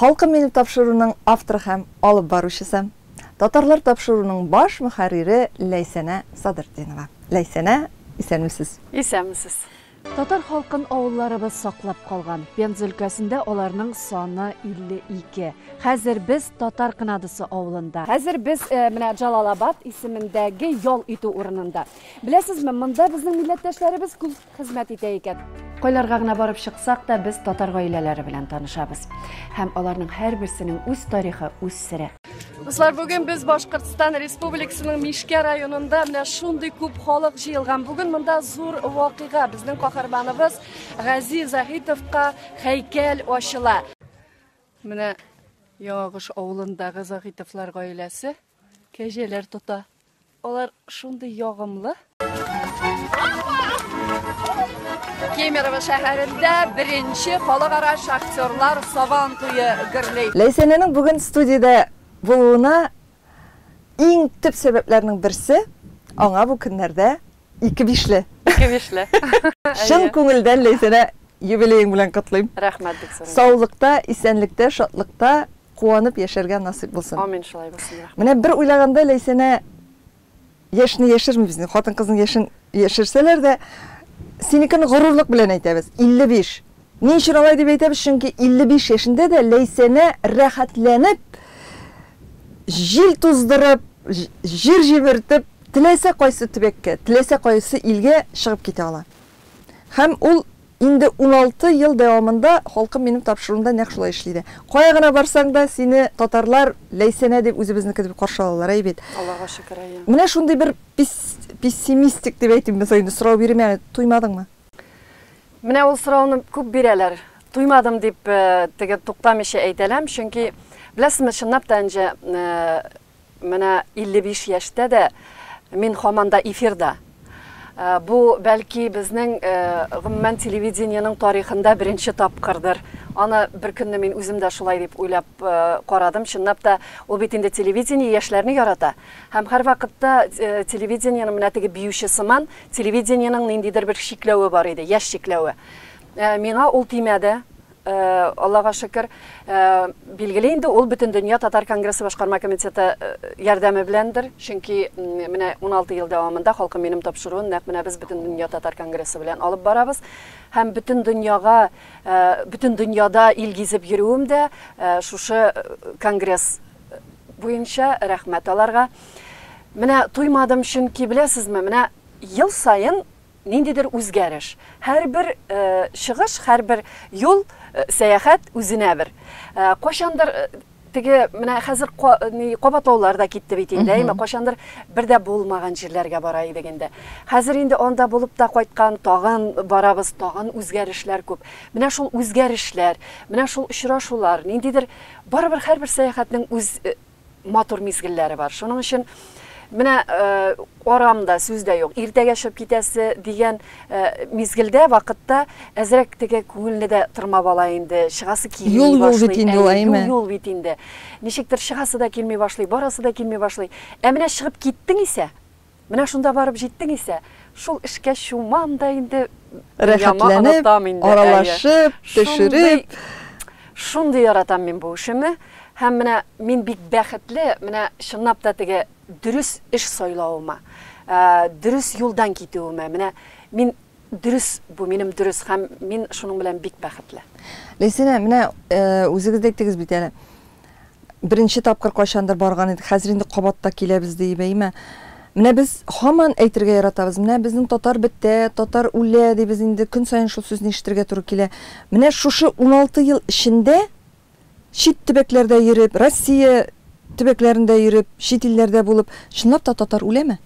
Халкым минем тапшыруның авторы һәм алып баручысы, Татарлар тапшыруның баш мөхәррире Ләйсәнә Садретдинова. Ләйсәнә, исәнмесез! Исәнмесез! Татар халкын авылларыбыз саклап калган. Пенза өлкәсендә аларның саны 52. Хәзер без Татар Кынадысы авылында. Хәзер без менә Җалалабад исемендәге ял итү урынында. Беләсезме, монда безнең милләттәшләребез күп. хезмәт итә икән. Кайларга гына барып чыксак та, без татар гаиләләре белән танышабыз. Һәм аларның һәрберсенең үз тарихы, үз сере. Дуслар, бүген без Башкортстан Республикасының Мишкә районында менә шундый күп халык җыелган. Бүген монда зур вакыйга. Безнең каһарманыбыз Гази Заһитовка һәйкәл ачыла. Менә Яңагыш авылындагы Заһитовлар гаиләсе. Кәҗәләр тота. Алар шундый ягымлы. Кемерово шәһәрендә беренче халыкара шахтерлар сабан туе гөрли. Ләйсәнәнең бүген студиядә булуына иң төп сәбәпләрнең берсе, аңа бу көннәрдә Ике бишле. Ике бишле. Чын күңелдән Ләйсәнә юбилеең белән котлыйм. Рәхмәт бик зур. Саулыкта, исәнлектә, шатлыкта куанып яшәргә насыйп булсын. Амин, шулай булсын, рәхмәт. Менә бер уйлаганда, Ләйсәнә, яшьне яшермибез инде, хатын-кызның яшен яшерсәләр дә, синекене горурлык белән әйтәбез, 55. Ни өчен алай дип әйтәбез, чөнки 55 яшендә дә Ләйсәнә рәхәтләнеп, җил туздырып, җир җимертеп, теләсә кайсы төбәккә, теләсә кайсы илгә чыгып китә ала. Һәм ул инде уналты ел дәвамында Халкым минем тапшыруында нәкъ шулай эшли дә. Кая гына барсаң да, сине татарлар Ләйсәнә дип, үзебезнеке дип каршы алалар, әй бит. Аллага шөкер, әйе. Менә шундый бер пессимистик дип әйтимме соң инде, сорау бирим әле, туймадыңмы? Менә ул сорауны күп бирәләр. Туймадым дип э, теге туктамыйча әйтәләм, чөнки беләсезме, чынлап та инде э, менә 55 яшьтә дә мин хаман да эфирда. Э, бу бәлки безнең гомумән телевидениенең тарихында беренче тапкырдыр. Аны бер көнне мин үзем дә шулай дип уйлап карадым. Чынлап та ул бит инде телевидение яшьләрне ярата. Һәм һәрвакытта телевидениенең менә теге биюче сыман Телевидениенең ниндидер бер чикләве бар иде, яшь чикләве. Миңа ул тимәде, Аллага шөкер. Билгеле инде, ул Бөтендөнья татар конгрессы башкарма комитеты ярдәме беләндер, чөнки менә 16 ел дәвамында Халкым минем тапшыруын нәкъ менә без Бөтендөнья татар конгрессы белән алып барабыз. Һәм бөтен дөньяга, бөтен дөньяда ил гизеп йөрүем дә шушы конгресс буенча рәхмәт аларга. Менә туймадым, чөнки, беләсезме, менә ел саен ниндидер үзгәреш. Һәрбер чыгыш, һәрбер юл, сәяхәт үзенә бер. Кайчандыр теге менә хәзер кабатлаулар да китте бит инде, әйме, кайчандыр бер дә булмаган җирләргә бара идек инде. Хәзер инде анда булып та кайткан, тагын барабыз, тагын үзгәрешләр күп. Менә шул үзгәрешләр, менә шул очрашулар, ниндидер Барыбер һәрбер сәяхәтнең үз матур мизгелләре бар. Шуның өчен менә арам да, сүз дә юк. Иртәгә чыгып китәсе дигән мизгелдә, вакытта әзрәк теге күңелне дә тырмап ала инде. Чыгасы килми башлый. Юл бит инде ул, әйме? Юл бит инде. Ничектер чыгасы да килми башлый, барасы да килми башлый. Ә менә чыгып киттең исә, Менә шунда барып җиттең исә, шул эшкә чумам да инде, дөньяма онытам инде. Рәхәтләнеп, аралашып, төшереп. Шундый яратам мин бу эшемне. Һәм менә мин бик бәхетле, менә чынлап та теге дөрес эш сайлавыма, дөрес юлдан китүемә. Менә мин дөрес, бу минем дөрес һәм мин шуның белән бик бәхетле. Ләйсәнә, менә үзегез дә әйттегез бит әле. Беренче тапкыр кайчандыр барган идек, хәзер инде кабат та киләбез, ди Ибәймә. Менә без һаман әйтергә яратабыз, менә безнең татар бетә, татар үлә, дибез инде, көн саен шул сүзне ишетергә туры килә. Менә шушы уналты ел эчендә чит төбәкләрдә йөреп, Россия төбәкләрендә йөреп, чит илләрдә булып, чынлап та татар үләме?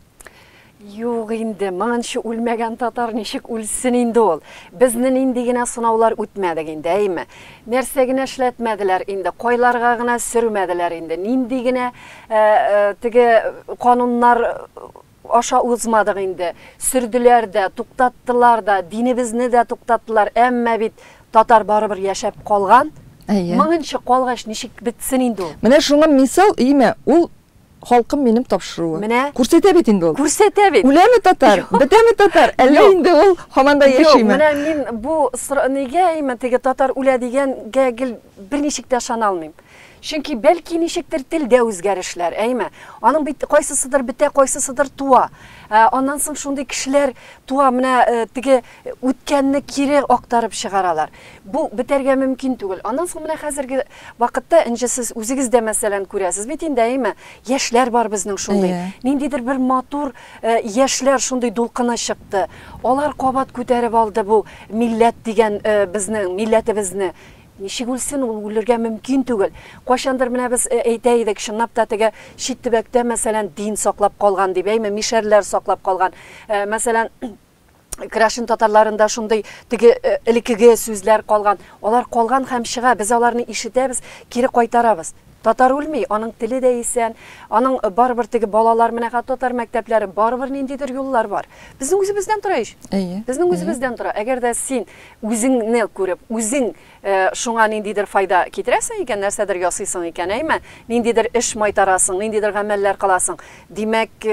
Юк инде, моңынчы үлмәгән татар ничек үлсен инде ул? Безне нинди генә сынаулар үтмәдек инде, әйме? Нәрсә генә эшләтмәделәр инде, кайларга гына сөрмәделәр инде, нинди генә теге кануннар аша узмадык инде. Сөрделәр дә, туктаттылар да, динебезне дә туктаттылар, әмма бит татар барыбер яшәп калган. Әйе. Моңынчы калгач, ничек бетсен инде ул? Менә шуңа мисал, әйме, ул Халкым минем тапшыруы. Менә. Күрсәтә бит инде ул. Күрсәтә бит. Үләме татар, бетәме татар, әллә инде ул һаман да яшиме? Юк, менә мин бу сорау, нигә имма теге татар үлә дигәнгә гел берничек тә ышана алмыйм. Чөнки бәлки ничектер телдә үзгәрешләр, әйме? Аның бит кайсысыдыр бетә, кайсысыдыр туа. Аннан соң шундый кешеләр туа, менә теге Үткәнне кире актарып чыгаралар. Бу бетәргә мөмкин түгел. Аннан соң менә хәзерге вакытта Энҗе сез үзегез дә мәсәлән күрәсез бит инде әйеме? Яшьләр бар безнең шундый. Ниндидер бер матур яшьләр шундый дулкыны чыкты. Алар кабат күтәреп алды бу милләт дигән безнең милләтебезне. Ничек үлсен ул, үлергә мөмкин түгел. Кайчандыр менә без әйтә идек, чынлап та теге чит төбәктә мәсәлән дин саклап калган дип әйме, мишәрләр саклап калган. Мәсәлән, Крашин татарларында шундый теге э, элекеге сүзләр калган. Алар калган һәм чыга, без аларны ишетәбез, кире кайтарабыз. Татар үлми, аның теле дә исән, аның э, барыбер теге балалар, менә татар мәктәпләре, барыбер ниндидер юллар бар. Безнең үзебездән тора ич. Әйе. Безнең үзебездән тора. Әгәр дә син үзеңне күреп, үзең э, шуңа ниндидер файда китерәсең икән, нәрсәдер ясыйсың икән, әйме? Ниндидер эш майтарасың, ниндидер гамәлләр кыласың. Димәк,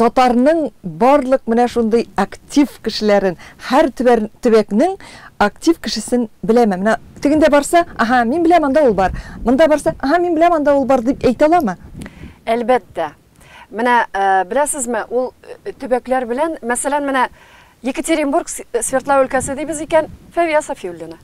Татарның барлык менә шундый актив кешеләрен, һәр төбәкнең актив кешесен беләме? Менә тегендә барса, аһа, мин беләм, анда ул бар. Монда барса, аһа, мин беләм, анда ул бар, дип әйтә аламы? Әлбәттә. Менә, беләсезме, ул төбәкләр белән, мәсәлән, менә Екатеринбург, Свердлау өлкәсе дибез икән, Фәвия Сафиуллина.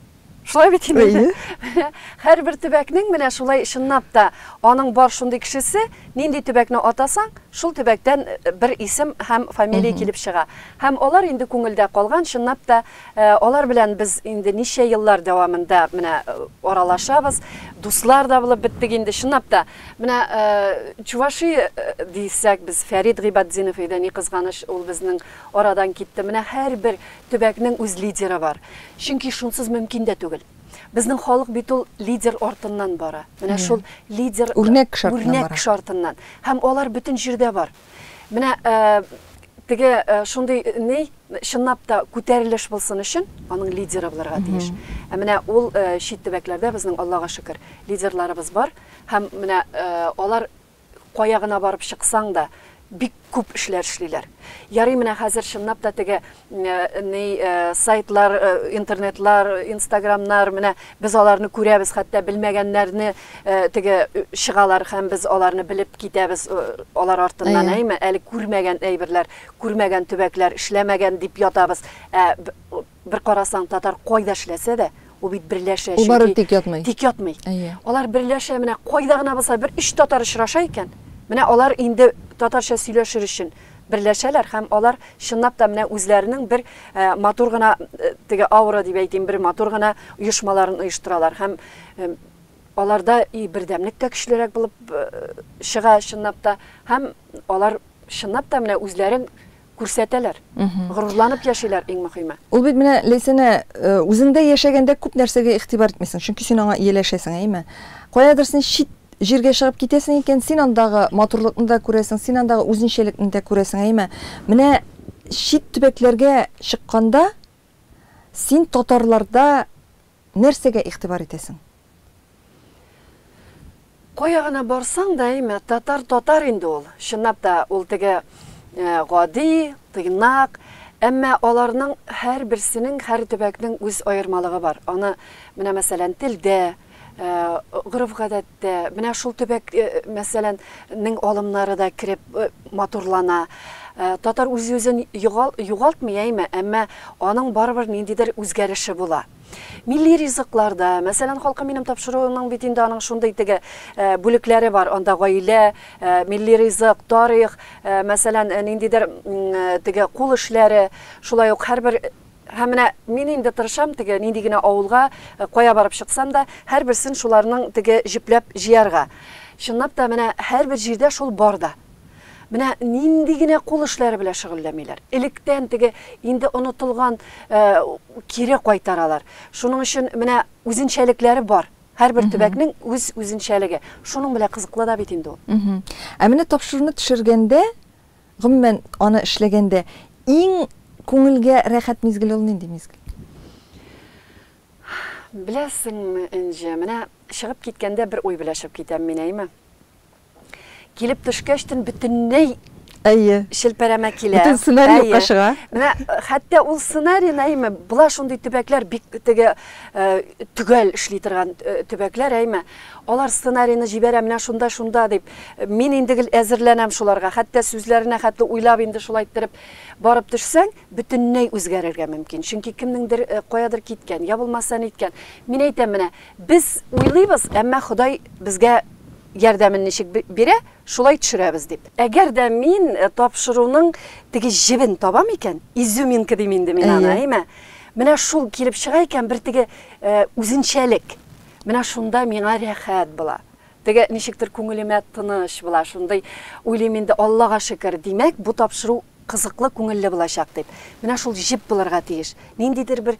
Шулай бит инде. Әйе. Һәрбер төбәкнең менә шулай чынлап та аның бар шундый кешесе, нинди төбәкне атасаң, шул төбәктән э, бер исем һәм фамилия килеп чыга. Һәм алар инде күңелдә калган, чынлап та э, алар белән без инде ничә еллар дәвамында менә э, аралашабыз, дуслар да булып беттек инде, чынлап та. Менә Чуваши дисәк, без Фәрид Гыйбатдинов иде, ни кызганыч, ул безнең арадан китте. Менә һәрбер Төбәкнең үз лидеры бар. Чөнки шунсыз мөмкин дә түгел. Безнең халык бит ул лидер артыннан бара. Менә шул лидер үрнәк шартыннан. Һәм алар бөтен җирдә бар. Менә теге шундый ни, чынлап та күтәрелеш булсын өчен, аның лидеры булырга тиеш. Ә менә ул чит төбәкләрдә безнең, Аллага шөкер, лидерларыбыз бар. Һәм менә алар Кая гына барып чыксаң да, бик күп эшләр эшлиләр. Ярый менә хәзер чынлап та теге ни сайтлар, интернетлар, инстаграмнар, менә без аларны күрәбез, хәтта белмәгәннәрне теге чыгалар һәм без аларны белеп китәбез алар артыннан, әйме? Әле күрмәгән әйберләр, күрмәгән төбәкләр, эшләмәгән дип ятабыз. Ә Бер карасаң, татар кайда эшләсә дә, ул бит берләшә, чөнки... Ул барыбер тик ятмый. Тик ятмый. Әйе. Алар берләшә, менә кайда гына булса, бер өч татар очраша икән, менә алар инде татарча сөйләшер өчен берләшәләр һәм алар чынлап та менә үзләренең бер матур гына теге аура дип әйтим, бер матур гына оешмаларын оештыралар һәм аларда и бердәмлек тә көчлерәк булып чыга чынлап та һәм алар чынлап та менә үзләрен Күрсәтәләр. Горурланып яшиләр, иң мөхиме. Ул бит менә, Ләйсәнә, үзеңдә яшәгәндә күп нәрсәгә игътибар итмисең, чөнки син аңа ияләшәсең, әйеме? Каядыр син чит җиргә чыгып китәсең икән, син андагы матурлыкны да күрәсең, син андагы үзенчәлекне дә күрәсең, әйеме? Менә чит төбәкләргә чыкканда, син татарларда Нәрсәгә игътибар итәсең? Кая гына барсаң да, әйме, татар татар инде ул. Чынлап та, ул теге гади, тыйнак, әмма аларның һәрберсенең, һәр төбәкнең үз аермалыгы бар. Аны, менә мәсәлән, телдә, гореф-гадәттә. Тә, менә шул төбәк, мәсәлән, нең алымнары да кереп матурлана. Татар үз-үзен йогал, югалтмый, әйме, әмма аның барыбер ниндидер үзгәреше була. Милли ризыклар да, мәсәлән, Халкым минем тапшыруының бит инде аның шундый теге бүлекләре бар, анда гаилә, милли ризык, тарих, мәсәлән, ниндидер теге кул эшләре, шулай ук һәрбер Һәм менә мин инде тырышам теге нинди генә авылга, кая барып чыксам да, һәрберсен шуларның теге җөпләп җыярга. Чынлап та, менә һәрбер җирдә шул бар да. Менә нинди генә кул эшләре белән шөгыльләмиләр. Электән теге инде онытылган кире кайтаралар. Шуның өчен менә үзенчәлекләре бар. Һәрбер төбәкнең үз үзенчәлеге. Шуның белән кызыклы да бит инде ул. Ә менә тапшыруны төшергәндә, Гомумән, аны эшләгәндә иң күңелгә рәхәт мизгел ул нинди мизгел? Беләсеңме, Энҗе, менә чыгып киткәндә бер уй белә чыгып китәм мин, әйеме? Килеп төшкәч төн бөтенләй Әйе. челпәрәмә килә. Бөтен сценарий Әйе. юкка чыга. Менә хәтта ул сценарийны, әйеме, була шундый төбәкләр, бик теге э, төгәл эшли торган э, төбәкләр, әйеме. Алар сценарийны җибәрә, менә шунда-шунда дип. Мин инде гел әзерләнәм шуларга. Хәтта сүзләренә хәтле уйлап инде шулай иттереп барып төшсәң, бөтенләй үзгәрергә мөмкин. Чөнки кемнеңдер каядыр киткән, я булмаса ниткән. Мин әйтәм, менә без уйлыйбыз, әмма Ходай безгә ярдәмен ничек бирә, шулай төшерәбез дип. Әгәр дә мин тапшыруның теге җебен табам икән, изюминка дим инде мин аны, әйме, менә шул килеп чыга икән, бер теге үзенчәлек. Менә шунда миңа рәхәт була. Теге, ничектер күңелемә тыныч була, шундый уйлыйм инде, Аллага шөкер, димәк, бу тапшыру кызыклы, күңелле булачак дип. Менә шул җеп булырга тиеш. Ниндидер бер,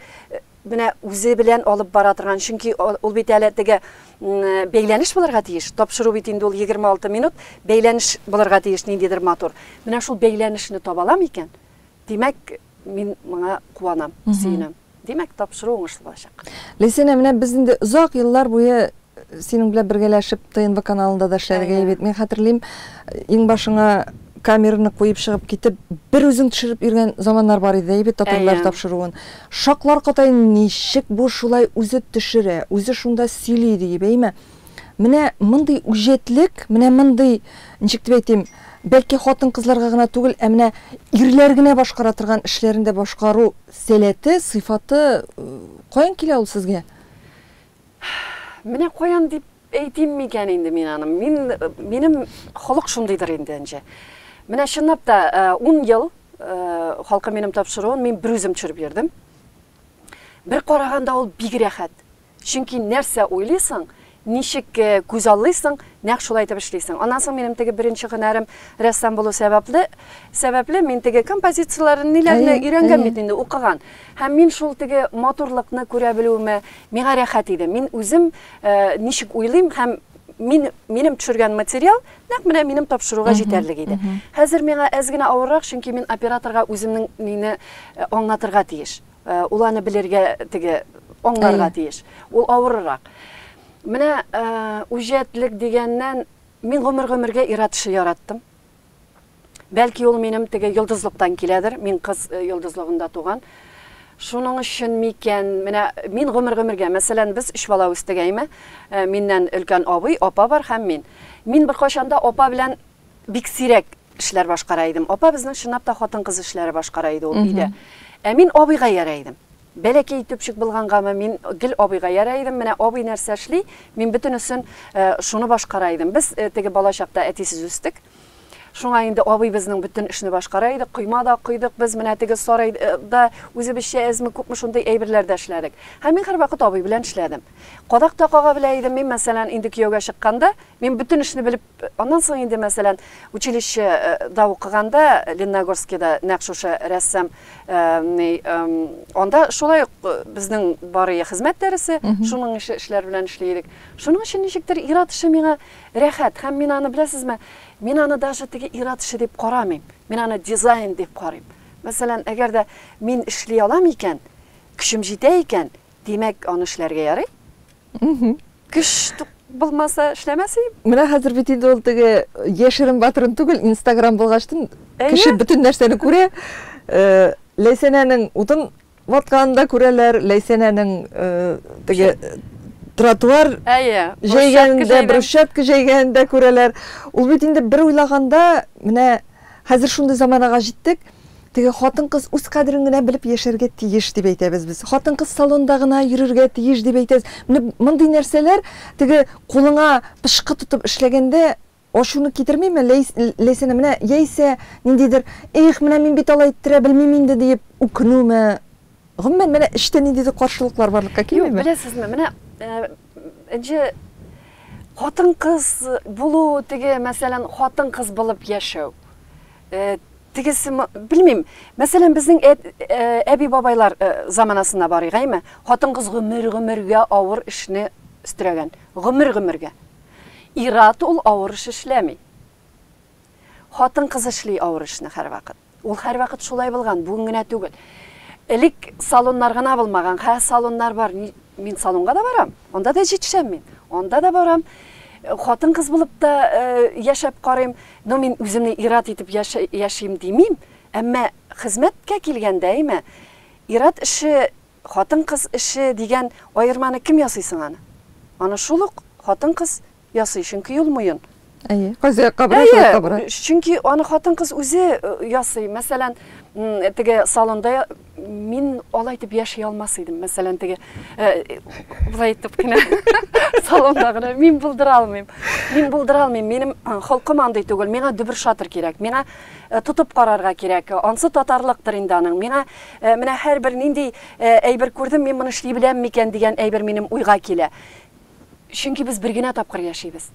менә үзе белән алып бара торган, чөнки ул бит әле теге, бәйләнеш булырга тиеш. Тапшыру бит инде ул егерме алты минут, бәйләнеш булырга тиеш ниндидер матур. Менә шул бәйләнешне таба алам икән, димәк, Мин моңа куанам, сөенәм. Димәк, тапшыру уңышлы булачак. Лесина, менә без инде озак еллар буе э, синең белән бергәләшеп ТНВ каналында да эшләдек бит. Мин хәтерлим, э, иң башыңа камераны куеп чыгып китеп, бер үзең төшереп йөргән заманнар бар иде, әйбәт татарлар тапшыруын. Шаклар катай ничек бу шулай үзе төшерә, үзе шунда сөйли диеп, әйме? Менә мондый үҗәтлек, менә мондый, ничек дип әйтим, бәлки хатын-кызларга гына түгел, ә менә ирләр генә башкара торган эшләрен дә башкару сәләте, сыйфаты каян килә ул сезгә? Менә каян дип әйтим микән инде мин аны? Мин, минем холык шундыйдыр инде, Энҗе. Менә чынлап та, ун ел Халкым минем тапшыруын мин берүзем төшереп йөрдем. Бер караганда ул бик рәхәт. Чөнки нәрсә уйлыйсың, ничек күз аллыйсың, нәкъ шулай итеп эшлисең. Аннан соң минем теге беренче һөнәрем рәссам булу сәбәпле, сәбәпле мин теге композицияләрен, ниләрне Әйе, өйрәнгән әйе. бит инде, укыган. Һәм мин шул теге матурлыкны күрә белүемә миңа рәхәт иде. Мин үзем ничек уйлыйм һәм мин, минем төшергән материал нәкъ менә минем тапшыруга җитәрлек иде. Хәзер миңа әз генә авыррак, чөнки мин операторга үземнең мине аңлатырга тиеш. Э, ул аны белергә теге аңларга тиеш ул авырырак менә э, үҗәтлек дигәннән мин гомер гомергә ир-ат эше яраттым бәлки ул минем теге йолдызлыктан киләдер мин кыз э, йолдызлыгында туган шуның өчен микән менә мин гомер гомергә мәсәлән без өч бала үстек әйме миннән өлкән абый апа бар һәм мин мин беркайчан да апа белән бик сирәк Эшләр башкара идем. Апа безнең чынлап та хатын-кыз эшләре башкара иде ул өйдә. Ә мин абыйга иярә идем. Бәләкәй төпчек булгангамы, мин гел абыйга иярә идем. Менә абый нәрсә эшли, мин бөтенесен шуны башкара идем. Без теге бала чакта әтисез үстек. Шуңа инде абый безнең бөтен эшне башкара иде. Койма да койдык без, менә теге сарайда үзебезчә әзме-күпме шундый әйберләр дә эшләдек. Һәм мин һәрвакыт абый белән эшләдем. Кадак та кага белә идем. Мин, мәсәлән, инде кияүгә чыкканда, мин бөтен эшне белеп Аннан соң инде, мәсәлән, училище да укыганда, Ленногорскида нәкъ шушы рәссам, ни, анда шулай ук безнең бар ие хезмәт дәресе, шуның ише эшләр белән эшли идек. Шуның өчен ничектер ир-ат эше миңа рәхәт һәм мин аны, беләсезме, мин аны даже теге ир-ат эше дип карамыйм. Мин аны дизайн дип карыйм. Мәсәлән, әгәр дә мин эшли алам икән, көчем җитә икән, димәк, аны эшләргә ярый. Көч булмаса эшләмәс идем. Менә хәзер бит инде ул теге яшерен батырын түгел, Инстаграм булгачтын кеше бөтен нәрсәне күрә. Э, Ләйсәнәнең утын ватканын да күрәләр, Ләйсәнәнең э, теге тротуар җәйгәнен дә, брусчатка җәйгәнен дә күрәләр. Ул бит инде бер уйлаганда менә Хәзер шундый заманага җиттек, теге хатын-кыз үз кадерен генә белеп яшәргә тиеш дип әйтәбез без. Хатын-кыз салонда гына йөрергә тиеш дип әйтәбез. Менә мондый нәрсәләр теге кулыңа пычкы тотып эшләгәндә ачуны китермиме? Ләйсәнә, менә яисә ниндидер, их, менә мин бит алай иттерә белмим инде диеп үкенүме? Гомумән, менә эчтә ниндидер каршылыклар барлыкка килмиме? Юк, беләсезме, менә Энҗе, хатын-кыз булу, теге, мәсәлән, хатын-кыз булып яшәү. Тегесе, белмим, мәсәлән, безнең әби-бабайлар заманасына барыйк, әйме? Хатын-кыз гомер-гомергә авыр эшне өстерәгән. Гомер-гомергә. Ират ул авыр эш эшләми. Хатын-кыз эшли авыр эшне һәрвакыт. Ул һәрвакыт шулай булган, бүген генә түгел. Элек салоннар гына булмаган, хәзер салоннар бар. Мин салонга да барам, анда да җитешәм мин. Анда да барам. Хатын-кыз булып та яшәп карыйм. Но мин үземне ир-ат итеп яшим димим, әмма хезмәткә килгәндә, әйме, ир-ат эше, хатын-кыз эше дигән аерманы кем ясый соң аны? Аны шул ук хатын-кыз ясый, чөнки юл муен. Әйе, кайсы якка бара, шул якка бара. Чөнки аны хатын-кыз үзе э, ясый. Мәсәлән, теге салонда мин алай итеп яши алмас идем. Мәсәлән, теге э, былай итеп кенә салонда гына мин булдыра алмыйм. Мин булдыра алмыйм. Минем э, холкым андый түгел. Миңа дөбер шатыр кирәк. Миңа Э, тотып карарга кирәк. Ансы татарлыктыр инде аның. Миңа э, менә һәрбер нинди э, әйбер күрдем, мин моны эшли беләм микән дигән әйбер минем уйга килә. Чөнки без бер генә тапкыр яшибез.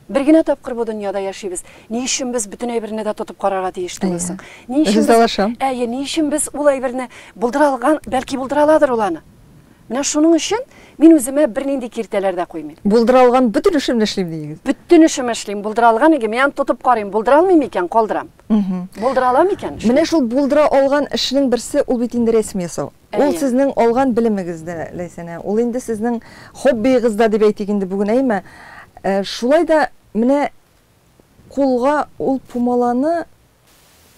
Бер генә тапкыр бу дөньяда яшибез. Ни өчен без бөтен әйберне дә тотып карарга тиеш түгел соң? Ни өчен без... Ризалашам. Әйе, ни өчен без ул әйберне булдыра алган, бәлки булдыра аладыр ул аны. Менә шуның өчен мин үземә бернинди киртәләр дә куймыйм. Булдыра алган бөтен эшемне эшлим диегез. Бөтен эшемне эшлим, булдыра алган иге, мин аны тотып карыйм, булдыра алмыйм икән, калдырам. Булдыра алам икән, эшлим. Менә шул булдыра алган эшнең берсе, ул бит инде рәсем ясау. Ул сезнең алган белемегез дә, Ләйсәнә, ул инде сезнең хоббиегыз да дип әйтик инде бүген, әйеме? Шулай да менә кулга ул пумаланы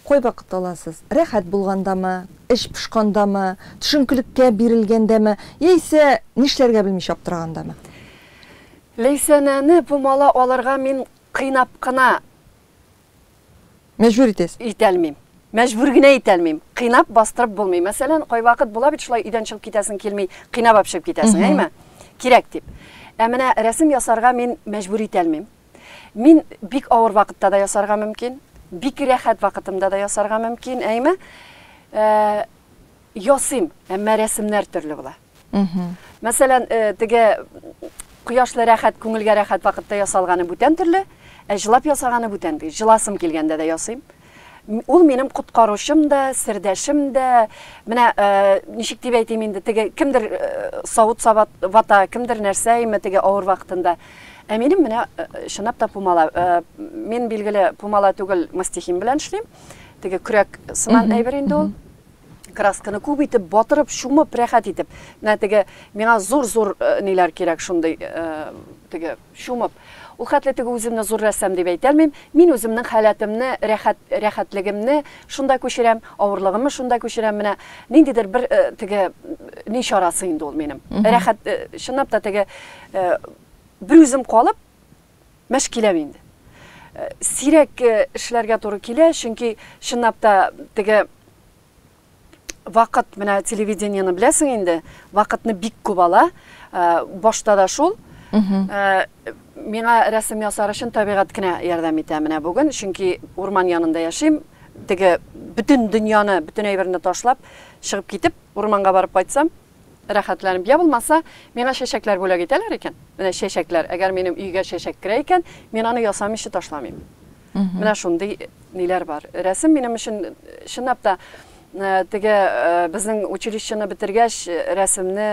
кайвакыт аласыз? Рәхәт булгандамы, эч пошкандамы, төшенкелеккә бирелгәндәме яисә нишләргә белмичә аптырагандамы? Ләйсәнәне пумала алырга мин кыйнап кына Мәҗбүр итәсез. Итәлмим. Мәҗбүр генә итәлмим. Кыйнап бастырып булмый. Мәсәлән, кайвакыт була бит шулай өйдән чыгып китәсең килми, кыйнап алып чыгып китәсең, әйме? Кирәк дип. Ә менә рәсем ясарга мин мәҗбүр итәлмим. Мин бик авыр вакытта да ясарга мөмкин, бик рәхәт вакытымда да ясарга мөмкин, әйме? Э, ясыйм, әмма рәсемнәр төрле була. Мәсәлән, теге кояшлы рәхәт, күңелгә рәхәт вакытта ясалганы бүтән төрле, ә җылап ясаганы бүтән бит. Җыласым килгәндә дә ясыйм. Ул минем коткаручым да, сердәшем дә. Менә ничек дип әйтим инде, теге кемдер савыт саба, вата, кемдер нәрсә ими теге авыр вакытында. Ә минем менә чынлап та пумала. Мин, билгеле, пумала түгел, мастихин белән эшлим. Теге көрәк сыман әйбер инде ул. красканы күп итеп батырып чумып рәхәт итеп менә теге миңа зур зур э, ниләр кирәк шундый э, теге чумып ул хәтле теге үземне зур рәссам дип әйтәлмим мин үземнең халәтемне рәхәт рәхәтлегемне шунда күчерәм авырлыгымны шунда күчерәм менә ниндидер бер э, теге ни чарасы инде ул минем рәхәт чынлап та теге бер үзем калып Мәш киләм инде. Э, сирәк э, эшләргә туры килә, чөнки чынлап та теге вакыт менә телевидениены беләсең инде, вакытны бик күп ала. Э, башта да шул. Миңа рәсем ясар өчен табигать кенә ярдәм итә менә бүген, чөнки урман янында яшим. Теге бөтен дөньяны, бөтен әйберне ташлап, чыгып китеп, урманга барып кайтсам, Рәхәтләнеп. Йә булмаса, миңа чәчәкләр бүләк итәләр икән? Менә чәчәкләр. Әгәр минем өйгә чәчәк керә икән, мин аны ясамыйча ташламыйм. Менә шундый ниләр бар. Рәсем минем өчен, чынлап та, теге безнең училищены бетергәч, рәсемне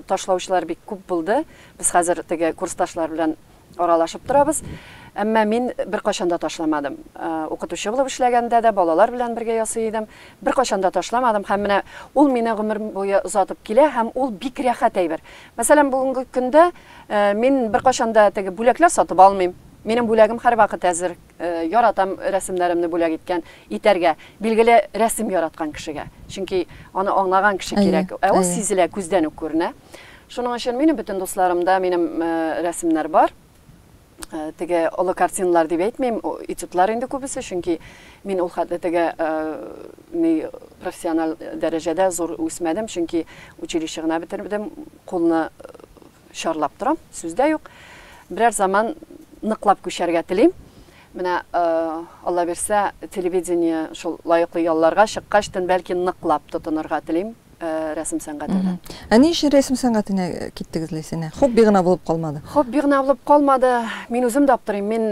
ташлаучылар бик күп булды. Без хәзер теге курсташлар белән Аралашып торабыз. Әмма мин беркайчан да ташламадым. Укытучы булып эшләгәндә дә балалар белән бергә ясый идем. Беркайчан да ташламадым һәм менә ул мине гомер буе озатып килә һәм ул бик рәхәт әйбер. Мәсәлән, бүгенге көндә мин беркайчан да теге бүләкләр сатып алмыйм. Минем бүләгем һәрвакыт әзер. Яратам рәсемнәремне бүләк иткән, итәргә, билгеле, рәсем яраткан кешегә. Чөнки аны аңлаган кеше кирәк. Ә ул сизелә, күздән үк күренә. Шуның өчен минем бөтен дусларымда минем рәсемнәр бар. Теге олы картиналар дип әйтмим, этюдлар инде күбесе, чөнки мин ул хәтле теге ни профессиональ дәрәҗәдә зур үсмәдем, чөнки училище гына бетердем, кулны чарлап торам, сүз дә юк. Берәр заман ныклап күчәргә телим. Менә Алла бирсә, телевидение шул лаеклы ялларга чыккачтын, бәлки ныклап тотынырга телим. рәсем сәнгатенә. Ә ни өчен рәсем сәнгатенә киттегез, Ләйсәнә? Хобби гына булып калмады. Хобби гына булып калмады. Мин үзем дә аптырыйм. Мин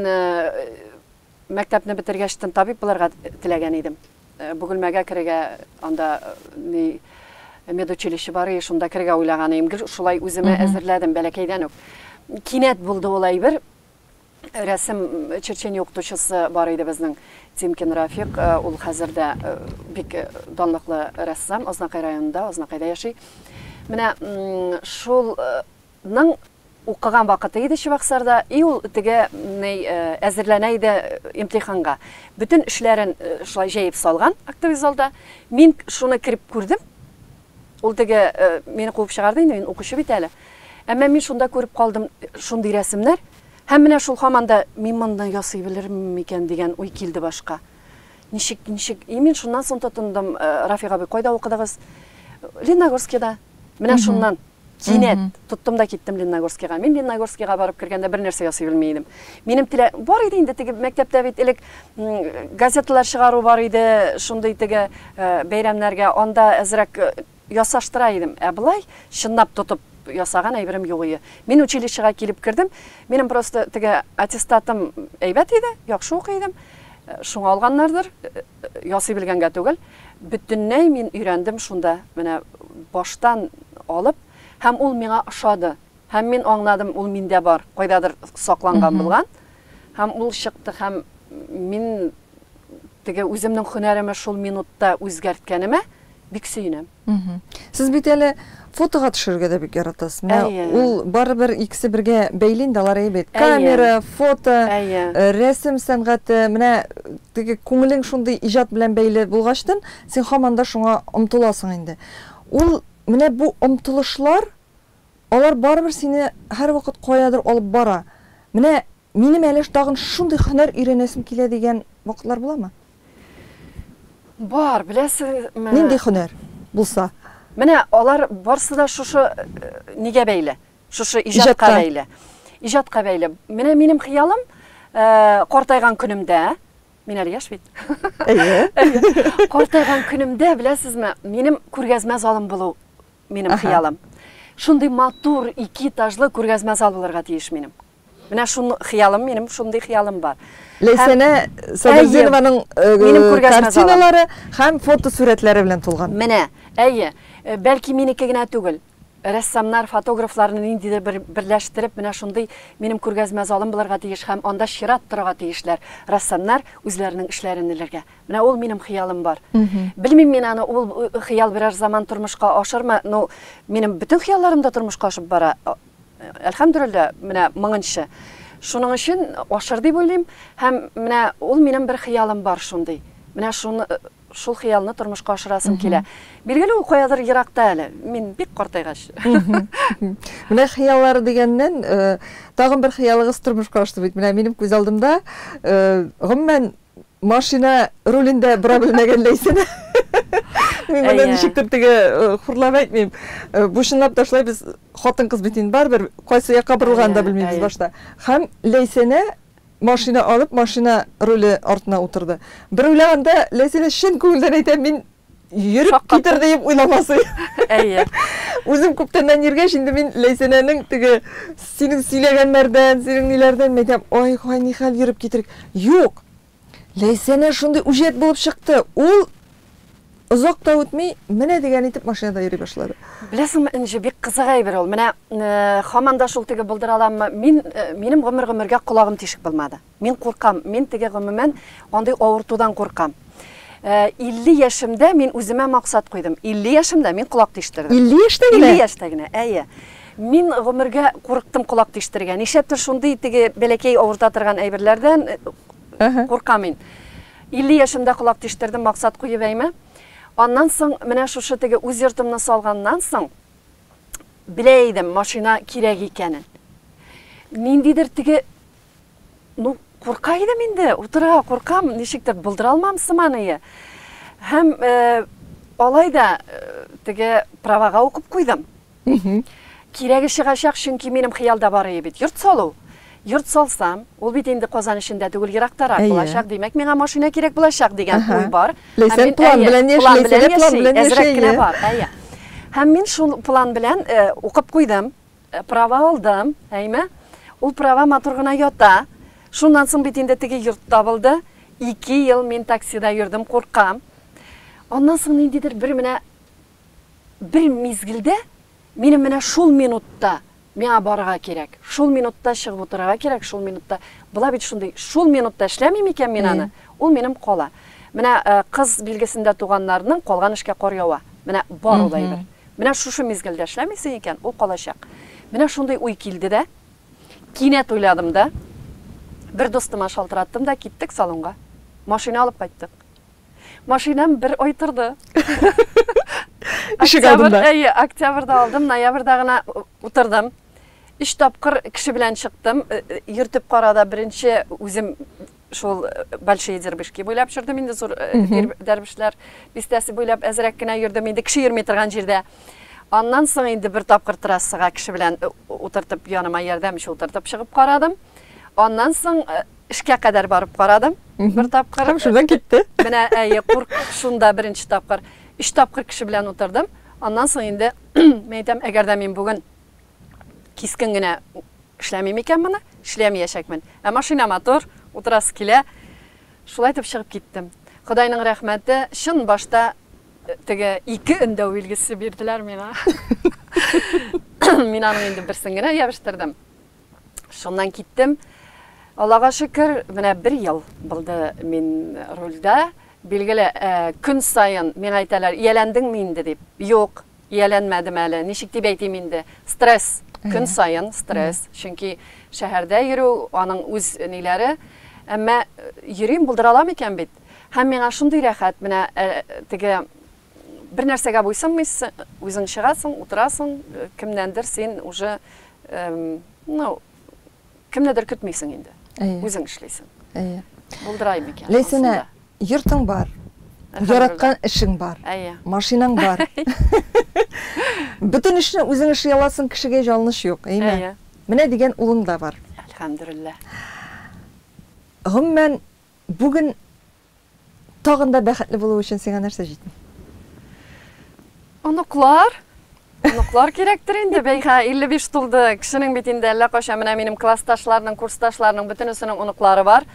мәктәпне бетергәч тын табиб булырга теләгән идем. Бөгелмәгә керергә, анда ни медучилище бар и шунда керергә уйлаган идем. Гел шулай үземә әзерләдем бәләкәйдән үк. Кинәт булды ул әйбер. рәсем черчение укытучысы бар иде безнең, Тимкин Рафик, ул хәзер дә бик данлыклы рәссам, Азнакай районында, Азнакайда яши. Менә шул ның укыган вакыты иде Чебоксарда, и ул теге әзерләнә иде имтиханга. Бөтен эшләрен шулай җәеп салган актовый залда. Мин шуны кереп күрдем, Ул теге мине куып чыгарды инде, мин укучы бит әле. Әмма мин шунда күреп калдым шундый рәсемнәр. Һәм менә шул һаман да мин моны ясый белермен микән дигән уй килде башка. Ничек, ничек? И мин шуннан соң тотындым, Рафик абый, кайда укыдыгыз? Лениногорскида. Менә шуннан. Кинәт тоттым да киттем Ленногорскига. Мин Ленногорскига барып кергәндә бер нәрсә ясый белми идем. Минем телә бар иде инде теге мәктәптә бит элек газеталар чыгару бар иде, шундый теге э, бәйрәмнәргә анда әзрәк э, ясаштыра идем. Ә былай чынлап тотып ясаган әйберем юк иде. Мин училищега килеп кердем. Минем просто теге аттестатым әйбәт иде, яхшы укый идем. Э, шуңа алганнардыр. Ясый белгәнгә түгел, бөтенләй мин өйрәндем шунда, менә баштан алып, һәм ул миңа ошады. Һәм мин аңладым, ул миндә бар, кайдадыр сакланган булган. Һәм ул чыкты, һәм мин теге үземнең һөнәремә шул минутта үзгәрткәнемә, бик сөенәм. Сез бит әле фотога төшерергә дә бик яратасыз. Менә ул барыбер икесе бергә бәйле инде, алар әйбәт. Камера, фото, рәсем сәнгате, менә теге күңелең шундый иҗат белән бәйле булгачтын, син һаман да шуңа омтыласың инде. Ул менә бу омтылышлар, алар барыбер сине һәрвакыт каядыр алып бара. Менә Минем әле тагын шундый һөнәр өйрәнәсем килә дигән вакытлар буламы? Бар, беләсезме? Нинди һөнәр булса? Менә алар барсы да шушы нигә бәйле, шушы иҗатка бәйле. Иҗатка бәйле. Менә минем хыялым, картайган көнемдә, мин әле яшь бит. Әйе. Картайган көнемдә, беләсезме, минем күргәзмә залым булу минем хыялым. Шундый матур, ике этажлы күргәзмә зал булырга тиеш минем. Менә шун хыялым минем, шундый хыялым бар. Ләйсәнә Сабирзинованың э, картиналары һәм фотосурәтләре белән тулган. Менә, әйе, э, бәлки минеке генә түгел. Рәссамнар, фотографларны ниндидер бер берләштереп, менә шундый минем күргәзмә залым булырга тиеш һәм анда чират торырга тиешләр. Рәссамнар үзләренең эшләрен элергә. Менә ул минем хыялым бар. Белмим мин аны ул э, хыял берәр заман тормышка ашырмы, но минем бөтен хыялларым да тормышка ашып бара. Әлхәмдүлиллә, менә мыңынчы. Шуның өчен ашыр дип уйлыйм һәм менә ул минем бер хыялым бар шундый. Менә шуны шул хыялны тормышка ашырасым килә. Билгеле, ул каядыр еракта әле. Мин бик картайгач. Менә хыяллар дигәннән, э, тагын бер хыялыгыз тормышка ашты бит. Менә минем күз алдымда, э, гомумән, Машина рулен дә бора белмәгәнләйсен. Мин моны Әйе. ничектер теге э, хурлап әйтмим. Э, Бу чынлап та шулай без хатын-кыз бит инде барыбер кайсы якка борылганын да Әйе, белмибез әйе. башта. Һәм Ләйсәнә машина алып, машина руле артына утырды. Бер уйлаганда Ләйсәнә чын күңелдән әйтә, мин йөреп Шаккатым. китер диеп уйламасы. Әйе. Үзем күптәннән йөргәч, инде мин Ләйсәнәнең теге синең сөйләгәннәрдән, синең ниләрдән мин әйтәм, ай, хай нихәл йөреп китер. Юк. Ләйсәнә шундый үҗәт булып чыкты. Ул озак та үтми, менә дигән итеп машинада йөри башлады. Беләсеңме, Энҗе, бик кызык әйбер ул. Менә э, хаман да шул теге булдыраламмы? Мин э, минем гомер-гомергә колагым тишек булмады. Мин куркам, мин теге гомумән андый авыртудан куркам. 50 яшемдә мин үземә максат куйдым. 50 яшемдә мин колак тиштердем. 50 яшьтә генә? 50 яшьтә генә, әйе. Мин гомергә курыктым колак тиштерергә. Нишләптер шундый теге бәләкәй авырта торган әйберләрдән куркам мин. 50 яшемдә колак тиштердем, максат куеп әйме. Аннан соң менә шушы теге үз йортымны салганнан соң белә идем машина кирәк икәнен. Ниндидер теге Ну, курка идем инде, утырырга куркам, ничектер булдыра алмам сыманые. Һәм э, алай да э, теге правага укып куйдым. Кирәге чыгачак, чөнки минем хыялда бар ие бит, йорт салу. Йорт салсам, ул бит инде Казан эчендә түгел, ерактарак Әйе. булачак, димәк, миңа машина кирәк булачак дигән Аһа. уй бар. Һәм Ләйсән мин, план әйе, белән яши, план белән Ләйсән дә план яши, белән яши, әзрәк кенә әйе. бар, әйе. Һәм мин шул план белән э, укып куйдым. Права алдым, әйме? Ул права матур гына ята. Шуннан соң бит инде теге йорт табылды. Ике ел мин таксида йөрдем, куркам. Аннан соң ниндидер бер менә бер мизгелдә минем менә шул минутта миңа барырга кирәк, шул минутта чыгып утырырга кирәк, шул минутта була бит шундый, шул минутта эшләмим икән мин аны, ул минем кала. Менә э, кыз билгесендә туганнарның калган эшкә кар ява. Менә бар ул әйбер. Менә шушы мизгелдә эшләмисең икән, ул калачак. Менә шундый уй килде дә, кинәт уйладым да, бер дустыма шалтыраттым да, киттек салонга. Машина алып кайттык. Машинам бер ай торды. Ишек алдында. Әйе, октябрьдә алдым, ноябрьдә гына утырдым. Өч тапкыр кеше белән чыктым, йөртеп карада беренче үзем шул Большие Дербышки буйлап йөрдем инде, зур Дербешләр бистәсе буйлап әзрәк кенә йөрдем инде, кеше йөрми торган җирдә. Аннан соң инде бер тапкыр трассага кеше белән утыртып, яныма ярдәмче утыртып чыгып карадым. Аннан соң эшкә кадәр барып карадым. Бер тапкыр. Һәм шунда китте. Менә әйе, курк шунда беренче тапкыр. Өч тапкыр кеше белән утырдым. Аннан соң инде, мен әйтәм, әгәр дә мин бүген Кискен генә эшләмим икән моны, эшләмиячәкмен. Ә машина матур, утырасы килә. Шулай итеп чыгып киттем. Ходайның рәхмәте, чын башта теге ике өндәү билгесе бирделәр миңа. Мин аның инде берсен генә ябыштердем. Шуннан киттем. Аллага шөкер, менә бер ел булды мин рульдә. Билгеле, көн саен миңа әйтәләр, ияләндеңме инде дип. Юк, Ияләнмәдем әле, ничек дип әйтим инде, стресс, көн саен стресс, чөнки шәһәрдә йөрү, аның үз ниләре, әмма йөрим, булдыра алам икән бит. Һәм миңа шундый рәхәт, менә теге бер нәрсәгә буйсынмыйсың, үзең чыгасың, утырасың, кемнәндер син уже, ну, Кемнедер көтмисең инде. Әйе. Үзең эшлисең. Әйе. Булдырай микән? Ләйсәнә, йортың бар. Яраткан эшең бар. Әйе. Машинаң бар. Бөтен эшне үзең эшли аласың, кешегә ялыныш юк, әйме? Әйе. Менә дигән улың да бар. Әлхәмдүлилләһ. Гомумән, бүген Тагын да бәхетле булу өчен сиңа нәрсә җитми? Оныклар. Оныклар кирәктер инде, бәйхә, 55 тулды. Кешенең бит инде әллә кайчан менә минем классташларның, курсташларның бөтенесенең оныклары бар.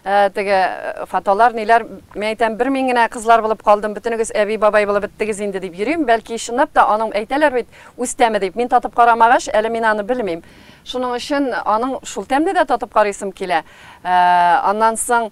Э, теге э, фотолар, ниләр, мин әйтәм, бер мин генә кызлар булып калдым, бөтенегез әби бабай булып беттегез инде дип йөрим. Бәлки чынлап та аның әйтәләр бит, үз тәме дип. Мин татып карамагач, әле мин аны белмим. Шуның өчен аның шул тәмне дә татып карыйсым килә. Э, аннан соң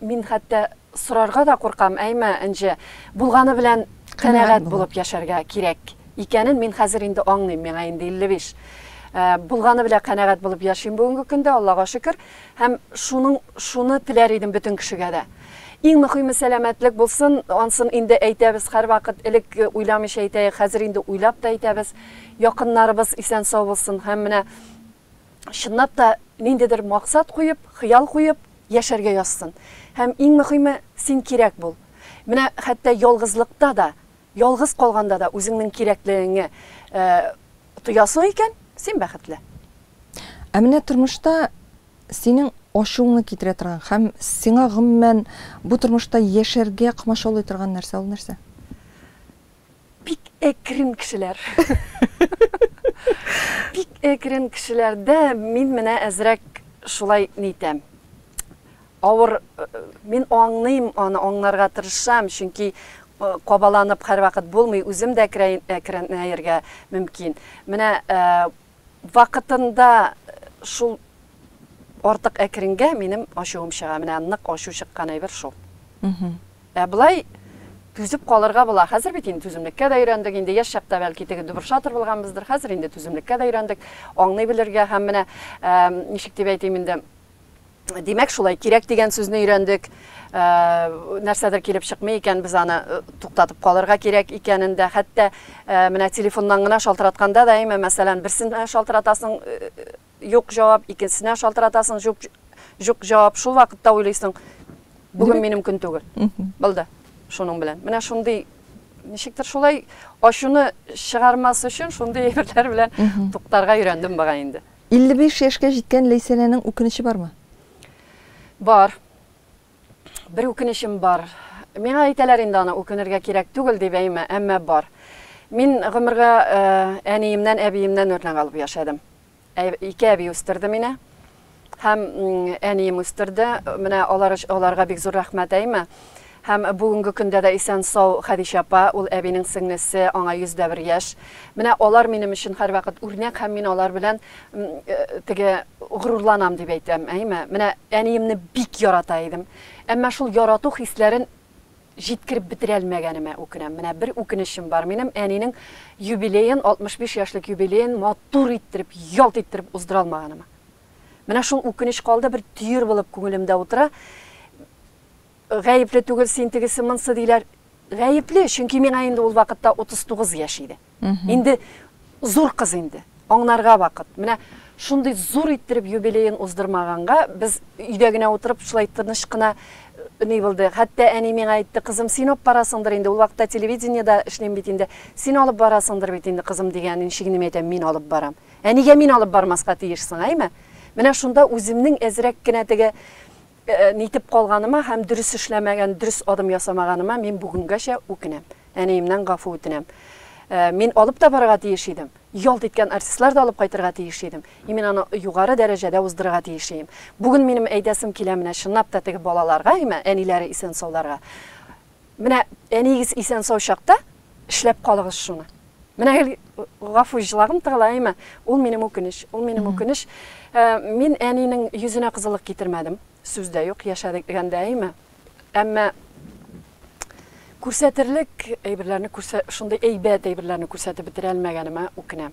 Мин хәтта сорарга да куркам, әйме, Энҗе, булганы белән канәгать булып яшәргә кирәк икәнен мин хәзер инде аңлыйм, миңа инде 55. Э, булганы белән канәгать булып яшим бүгенге көндә, Аллага шөкер, һәм шуның шуны теләр идем бөтен кешегә дә. Иң мөхиме сәламәтлек булсын, ансын инде әйтәбез һәрвакыт, элек э, уйламыйча әйтәек, хәзер инде уйлап та әйтәбез. Якыннарыбыз исән-сау булсын һәм менә чынлап та ниндидер максат куеп, хыял куеп яшәргә язсын. Һәм иң мөхиме, син кирәк бул. Менә хәтта ялгызлыкта да, ялгыз калганда да үзеңнең кирәклегеңне тоясың икән, син бәхетле. Ә менә тормышта синең ачуыңны китерә торган һәм сиңа гомумән бу тормышта яшәргә комачаулый торган нәрсә ул нәрсә? Бик әкрен кешеләр. Бик әкрен кешеләрдә мин менә әзрәк шулай нитәм. Авыр мин аңлыйм, аны аңларга тырышам, чөнки кабаланып һәрвакыт булмый, үзем дә әкренәергә мөмкин. Менә Вакытында шул артык әкренгә минем ачуым чыга. Менә нык ачу чыккан әйбер шул. Ә болай түзеп калырга була. Хәзер бит инде түземлеккә дә өйрәндек. Инде яшь чакта бәлки теге дубыршатор булганбыздыр. Хәзер инде түземлеккә дә өйрәндек. Аңлый белергә һәм менә ничек дип әйтим инде, Димәк, шулай кирәк дигән сүзне өйрәндек. Ә, нәрсәдер килеп чыкмый икән, без аны э, туктатып калырга кирәк икәнен дә, хәтта ә, менә телефоннан гына шалтыратканда да, әйме, мәсәлән, берсенә шалтыратасың, э, э, юк җавап, икенчесенә шалтыратасың, юк, юк җавап. Шул вакытта уйлыйсың, бүген минем көн түгел. Булды. Шуның белән. Менә шундый ничектер шулай ачуны чыгармас өчен шундый әйберләр белән туктарга өйрәндем бага инде. 55 яшькә җиткән Ләйсәнәнең үкенече бармы? Бар. Бер үкенечем бар. Миңа әйтәләр инде аны үкенергә кирәк түгел дип әйме, әмма бар. Мин гомергә э, әниемнән, әбиемнән үрнәк алып яшәдем. Ә- Ике әби үстерде мине. Һәм м, әнием үстерде. Менә алар өч- аларга бик зур рәхмәт әйме. Һәм бүгенге көндә дә исән-сау Хәдичә апа, ул әбинең сеңлесе, аңа 101 яшь. Менә алар минем өчен һәрвакыт үрнәк һәм мин алар белән теге горурланам дип әйтәм, әйеме? Менә әниемне бик ярата идем. Әмма шул ярату хисләрен җиткереп бетерә алмәгәнемә үкенәм. Менә бер үкенечем бар минем, әнинең юбилеен, 65 яшьлек юбилеен матур иттереп, ялт иттереп уздыра алмаганыма. Менә шул үкенеч калды, бер төер булып күңелемдә утыра. Гаепле түгел син тегесе монсы диләр. Гаепле, чөнки миңа инде ул вакытта 39 яшь иде. Инде зур кыз инде. Аңнарга вакыт. Менә шундый зур иттереп юбилеен уздырмаганга, без өйдә генә утырып шулай тыныч кына ни булды. Хәтта әни миңа әйтте, кызым, син алып барасыңдыр инде, ул вакытта телевидениедә эшлим бит инде. Син алып барасыңдыр бит инде, кызым, дигән ничек инде мин әйтәм, мин алып барам. Ә нигә мин алып бармаска тиешсең, әйме? Менә шунда үземнең әзрәк кенә теге Нитеп калганыма һәм дөрес эшләмәгән, дөрес адым ясамаганыма мин бүгенгәчә үкенәм. Әниемнән гафу үтенәм. Мин алып та барырга тиеш идем. Ялт иткән артистлар да алып кайтырга тиеш идем. И мин аны югары дәрәҗәдә уздырырга тиеш ием. Бүген минем әйтәсем килә менә чынлап та теге балаларга имә, әниләре исән-сауларга. Менә әниегез исән-сау чакта эшләп калыгыз шуны. Менә гел гафу җылагым тыгыла, әйме? Ул минем үкенеч, ул минем үкенеч. Э, мин әнинең йөзенә кызыллык китермәдем. Сүз дә юк, яшәгәндә, әйме? Әмма күрсәтерлек әйберләрне күрсә, шундый әйбәт әйберләрне күрсәтеп бетерә алмаганыма үкенәм.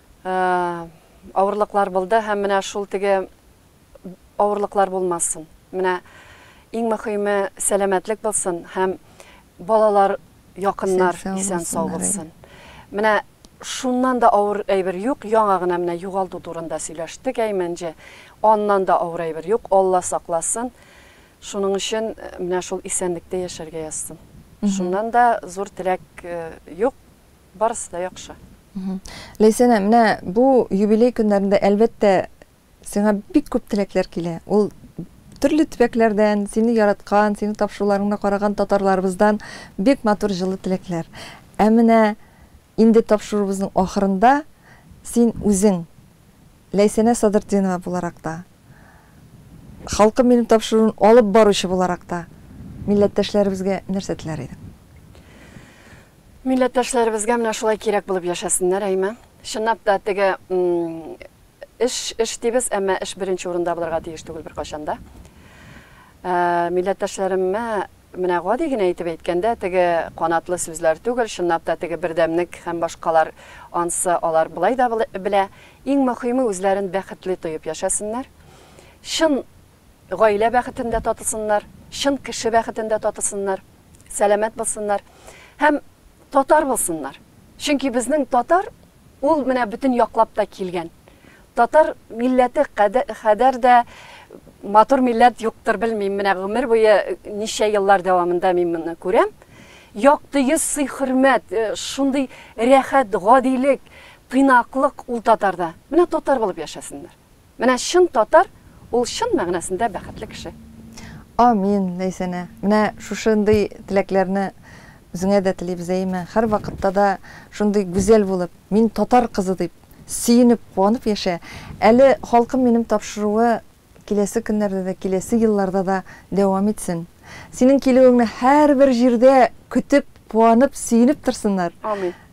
Авырлыклар булды һәм менә шул теге авырлыклар булмасын. Менә иң мөхиме сәламәтлек булсын һәм балалар якыннар исән сау булсын. Менә шуннан да авыр әйбер юк, яңа гына менә югалту турында сөйләштек Әймәнҗе. Аннан да авыр әйбер юк, Алла сакласын. Шуның өчен э, менә шул исәнлектә яшәргә язсын. Шуннан да зур теләк э, юк. Барысы да яхшы. Ләйсәнә, менә бу юбилей көннәрендә, әлбәттә, сиңа бик күп теләкләр килә. Ул төрле төбәкләрдән, сине яраткан, сине тапшыруларыңны караган татарларыбыздан бик матур җылы теләкләр. Ә менә инде тапшыруыбызның ахырында син үзең, Ләйсәнә Садыртдинова буларак та, Халкым минем тапшыруын алып баручы буларак та, милләттәшләребезгә нәрсә теләр идең? Милләттәшләребезгә менә шулай кирәк булып яшәсеннәр, әйме? Чынлап та, теге эш, эш дибез, әмма эш беренче урында булырга тиеш түгел беркайчан да. Ә, милләттәшләремә менә гади генә итеп әйткәндә, теге канатлы сүзләр түгел, чынлап та теге бердәмлек һәм башкалар ансы алар былай да белә. Иң мөһиме үзләрен бәхетле тоеп яшәсеннәр. Чын Гаилә бәхетен дә татысыннар, чын кеше бәхетен дә татысыннар, сәламәт булсыннар һәм татар булсыннар. Чөнки безнең татар ул менә бөтен яклап та килгән. Татар милләте кадәр дә матур милләт юктыр, белмим, менә гомер буе ничә еллар дәвамында мин моны күрәм. Якты йөз, сый-хөрмәт, э, шундый рәхәт, гадилек, тыйнаклык ул татарда. Менә татар булып яшәсеннәр. Менә чын татар ул чын мәгънәсендә бәхетле кеше. Амин, Ләйсәнә! Менә шушындый теләкләрне үзеңә дә телибез, әйеме? Һәрвакытта да шундый гүзәл булып, мин татар кызы дип, сөенеп, куанып яшә. Әле Халкым минем тапшыруы киләсе көннәрдә дә, киләсе елларда да дәвам итсен. Синең килүеңне һәрбер җирдә көтеп, куанып, сөенеп торсыннар. Амин.